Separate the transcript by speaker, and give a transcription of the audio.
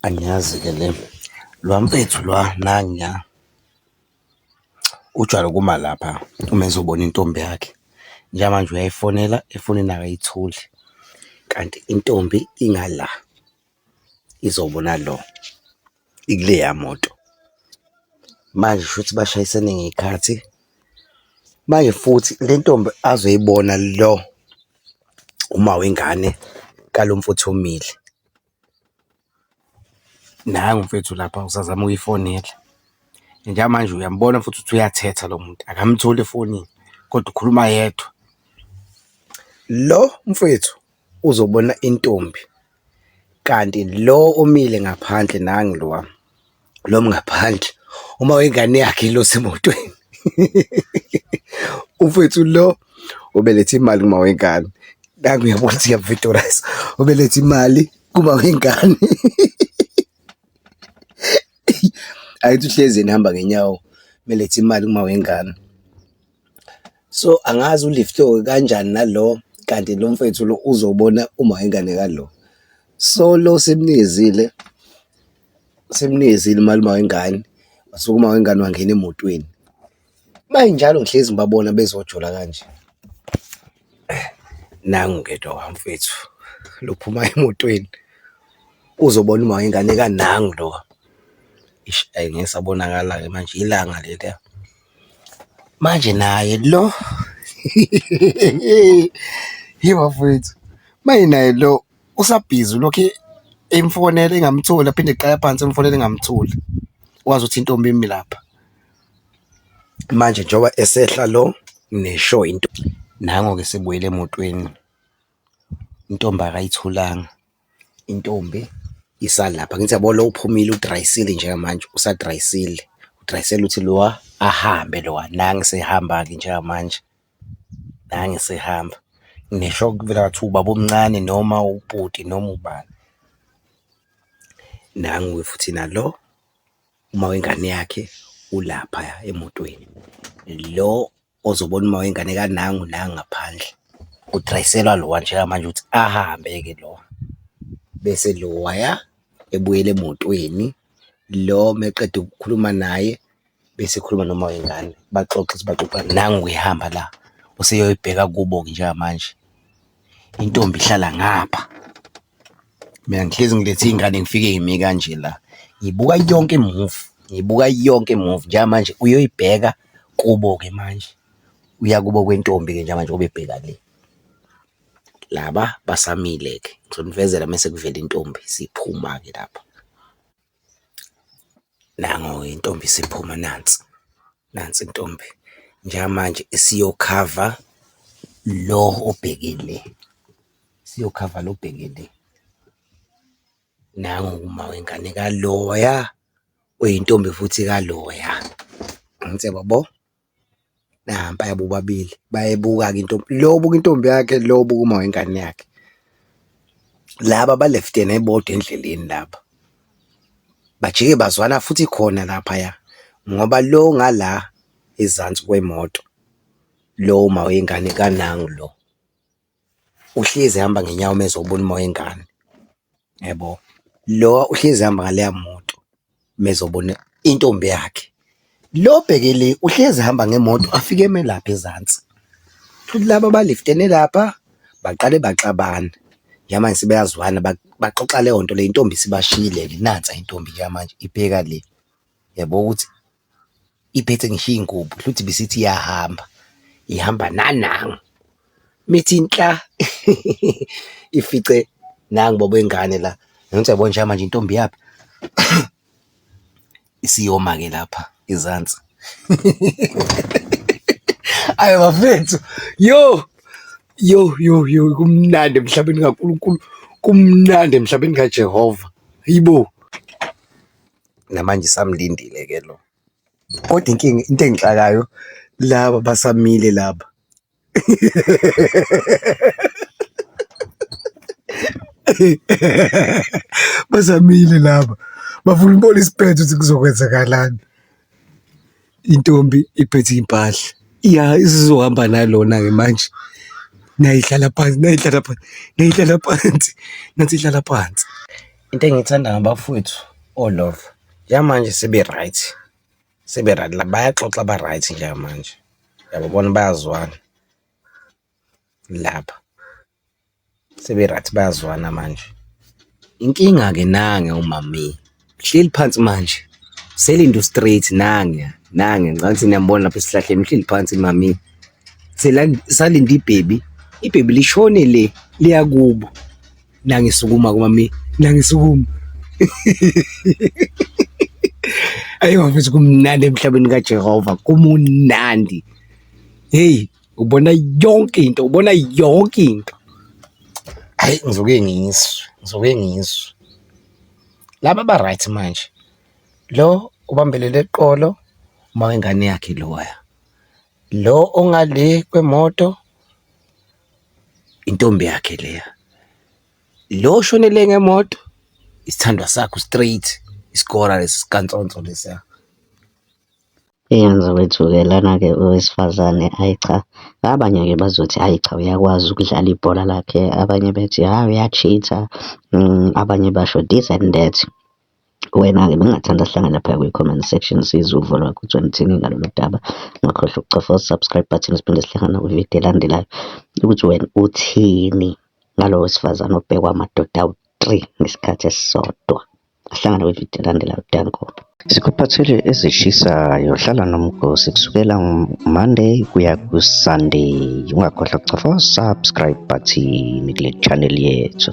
Speaker 1: Angiyazi-ke le lwa mfethu lwa nangiya ujwayele ukuma lapha uma ezobona intombi yakhe. Njengamanje uyayifonela efonini akayitholi kanti intombi ingala izobona lo ikuleya moto. Manje shuthi bashayisene ngey'khathi, manje futhi le ntombi azoyibona lo umawengane kalo mfowethu omile. Nangu mfethu lapha usazama ukuyifonela njengamanje uyambona futhi ukuthi uyathetha lo muntu akamtholi efonini kodwa ukhuluma yedwa. Lo mfwethu uzobona intombi kanti lo omile ngaphandle nangu lowa. noma ngaphandle uma wengane yakhe ilosi emotweni umfethu lo ubelethe imali kuma wengane nangu uyabona ukuthi uyavitorisa ubelethe imali kuma wengane ayithi uhlezi nihamba ngenyawo belethe imali kuma wengane So angazi uliftoke kanjani nalo kanti lo mfethu lo uzobona uma ingane kalo. So lo simnizile, simnizile umalume wengane, wasuka uma wengane wangena emotweni. Uma injalo ngihlezi ngibabona bezojola kanje. Nangu ke lo mfethu lo phuma emotweni uzobona uma wengane ka nangu lo. Eish ayi ngeke esabonakala-ke manje ilanga leliya. Manje naye lo hheyi bafwethu, manje naye lo usabhizi ulokhu emfonela engamtholi aphinde eqala phansi emfonela engamtholi, wazi ukuthi intombi imi lapha. Manje njengoba esehla lo ngisho into, nango-ke esebuyela emotweni, intombi akayitholanga. Intombi isalapha ngithi yabo lo uphumile udrayisile njengamanje usadrayisile, udrayisela ukuthi lowa ahambe lowa nangu esehamba-ke njengamanje, nangu esehamba. Ngisho kuvela kuthiwa ubaba omncane noma ubhuti noma ubani, nangu-ke futhi nalo umawengane yakhe ulaphaya emotweni, lo ozobona uma wengane kanangu nangu ngaphandle udrayiselwa lowa njengamanje ukuthi ahambe-ke lowa bese lowaya ebuyela emotweni lo meqeda ukukhuluma naye bese ekhuluma noma wengane baxoxe ukuthi baxoxa nangu uyahamba la useyoyibheka kubo-ke njengamanje intombi ihlala ngapha. Mina ngihlezi ngilethe ingane ngifike ngimi kanje la. Ngibuka yonke move, ngibuka yonke move njengamanje uyoyibheka kubo ke manje. Uya kubo kwentombi ke njengamanje obebheka le. Laba basamile ke ngizonivezela mese kuvela intombi siphuma ke lapha. Nango-ke intombi isiphuma nansi, nansi intombi. Njengamanje isiyokhava lo obheke le, isiyokhava lo obheke le. Nangu-ke umama wengane ka loya oyintombi futhi ka loya. Angithi uyababona? Nampaya bobabili bayebuka-ke intombi, lo ubuka intombi yakhe, lo ubuka umama wengane yakhe. Laba baleftene bodwa endleleni laba, bajike bazwana futhi khona laphaya ngoba lo ongala ezansi kwemoto, lo umawengane kanangu lo. uhlezi ehamba ngenyawo uma ezobona uma wengane, yabo. Lo uhlezi ehamba ngaleya moto uma ezobona intombi yakhe. Lo obheke le uhlezi ehamba ngemoto afike eme lapha ezansi. Shuthi laba baliftene lapha baqale baxabana, njengamanje sebeyazwana baxoxa leyo nto leyo, intombi isibashiyile-ke nansi intombi-ke manje ibheka le, yabo ukuthi. iphethe ngisho iy'ngubo hluthi bisithi iyahamba ihamba nanangu mithi inhla ifice nangu baba wengane la ngithi yabona njengoba manje intombi yaphi isiyoma-ke lapha izansi ayi bafethu yo yo yo yo kumnandi emhlabeni kaNkulunkulu kumnandi emhlabeni kaJehova yibo namanje isamlindile ke lo. Kodwa inkinga into engixakayo laba basamile laba. Basamile laba bafuna ukubona isiphetho ukuthi kuzokwenzakalani. intombi iphethe iy'mpahla iya isizohamba nalona-ke manje nayihlala phansi nayihlala phansi nayihlala phansi nathi ihlala phansi. Into engiyithanda ngabafowethu oLove yamanje sebe-right sebe-right la bayaxoxa ba-right njengamanje, uyababona bayazwana. lapha sebe-right bayazwana manje. Inkinga-ke nange umame uhleli phansi manje uselinda u-straight nange nange ngicabanga ukuthi niyambona lapha esihlahleni uhleli phansi umame usalinde ibhebi, ibhebi lishone le liya kubo. Nange sukuma-ke umame nange sukuma ayi bafethu kumnandi emhlabeni kaJehova kumnandi hheyi. ubona yonke into ubona yonke into hayi ngizoke ngizwe ngizoke ngizwe laba ba right manje lo ubambelele eqolo uma wengane yakhe loya lo ongale kwemoto intombi yakhe leya lo shonele ngemoto isithandwa sakho straight isikora lesi sikantsonso lesiya Eyenza
Speaker 2: kwethuke lana-ke owesifazane ayi cha, abanye-ke bazothi ayi cha uyakwazi ukudlala ibhola lakhe, abanye bethi hha uya-cheater, abanye basho this and that. Wena-ke bengingathanda sihlangane laphaya kwi-comment section sizwe uvo lwakho ukuthi wena uthini ngalolu daba. Ungakhohlwa ukucofa u-subscribe button siphinde sihlangane nakwi-video elandelayo ukuthi wena uthini ngalo wesifazane obhekwa amadoda awu-three ngesikhathi esisodwa. Ahlangana kwividiyo elandelayo. Danko. Sikuphathele ezishisayo. Hlala nomgosi kusukela Monday kuya ku-Sunday. Ungakhohlwa kucofa subscribe button kule channel yethu.